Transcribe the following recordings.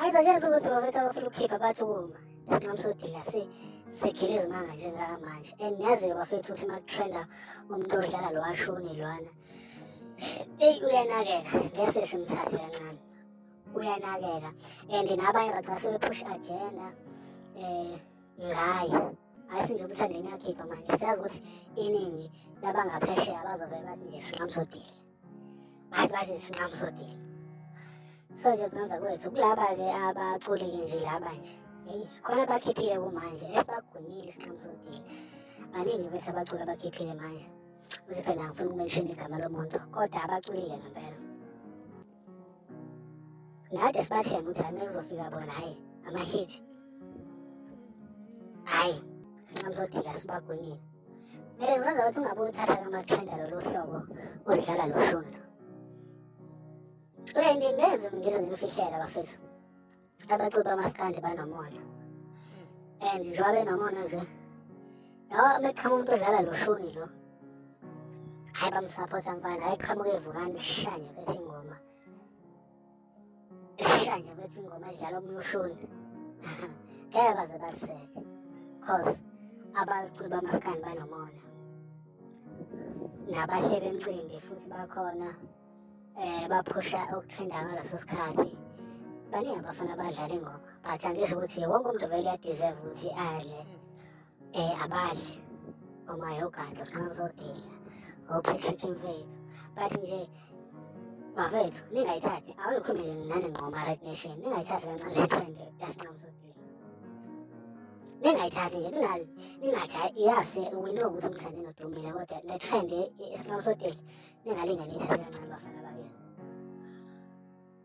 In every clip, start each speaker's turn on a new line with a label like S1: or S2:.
S1: Ayizazenza ukuthi bafethu abafuna ukukhipha bathi ukuma isinqamu sodila si sigila izimanga nje njengamanje and niyazi-ke bafethu ukuthi uma kutrenda umuntu odlala lo washuni lwana eyi uyanakeka ngese simthathe kancane uyanakeka and nabanye raca sebepush agenda um ngaye hayi sinje ukuthi angene akhipha manje siyazi ukuthi iningi labangaphesheya bazobe bathi nje singamsodile bathi bathi isinqamu sodile so nje singenza kwethu kulaba-ke abaculi-ke nje laba nje eyi khona bakhiphile kumanje esibagwinyile isinqamu sodile baningi kwethu abaculi abakhiphile manje ukuthi phela ngifuna ukumenshina igama lomuntu kodwa abaculile ngempela ngade sibathemba ukuthi hayi mekuzofika bona hhayi amahithi hhayi sinqamu sodila sibagwinyile Mele uzazi ukuthi ungabe uthatha kamathenda lolu hlobo odlala loshuni. Uyendi ngenze ngize ngilufihlela bafethu. Abacuba amaskandi banomona. And njengoba benomona nje. Yawa meqhamuka umuntu odlala loshuni lo. Hayi bamsapota mfana, ayiqhamuke evukani shanye bese Ifika nje kwethi ingoma edlala omunye ushuni ngeke baze baliseke cause abalicula amasikani banomona nabahleli emcimbi futhi bakhona eh baphusha ukutrenda ngaleso sikhathi baningi abafana abadlala ingoma but angisho ukuthi wonke umuntu vele uyadeserve ukuthi adle Eh abadli uma yogazi uqina uzodidla oPatrick mfethu but nje bafethu ningayithathi awuyikhumbile nani nqoma Red Nation ningayithathi kancane le trend yasinqama uzodidla ningayithathi nje ningazi ningathi yase we know ukuthi umthande nodumile kodwa le trend esinqama uzodidla ningalinganisa kancane bafana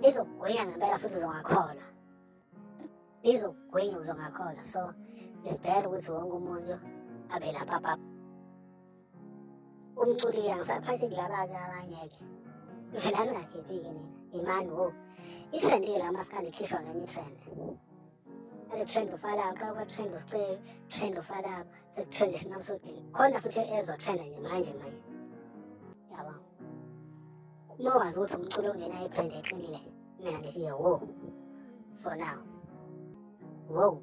S1: lizokugwinya ngempela futhi uzongakholwa lizokugwinya uzongakholwa so it's better ukuthi wonke umuntu abe lapha pap umculi-ke angisaphathi kulabake abangeke vela ningakhiphi-ke nina imani wo itrend-ke la masikandi ikhishwa ngenye itrend and trend ufala uqala ukuba trend usice trend ufala sekutrend isinqamu sodili khona futhi ezotrenda nje manje manje yabo uma wazi ukuthi umculo ongenayo ibrand eqinile mina ngithi wo for now wow